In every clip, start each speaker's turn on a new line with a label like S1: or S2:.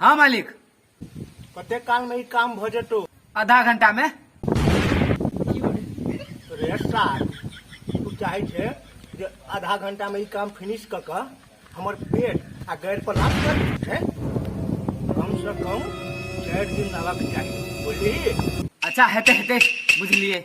S1: हाँ मालिक कते काल में ई काम भ जेतो आधा घंटा में रे सार तू चाहे छे जे आधा घंटा में ई काम फिनिश क क हमर पेट आ गैर पर लाभ कर है कम से कम चार दिन रहबाक चाही बुझली अच्छा हेते हेते बुझलिए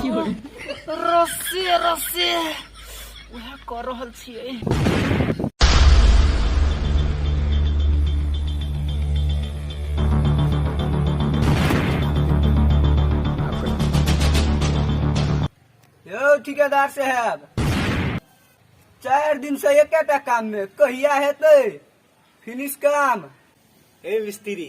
S1: रस्सी रस्सी उएह कऽ रहल छियै यौ ठिकेदार साहेब चारि दिन से एकेटा काम में कहिया हेतै फिनिश काम हे मिस्त्री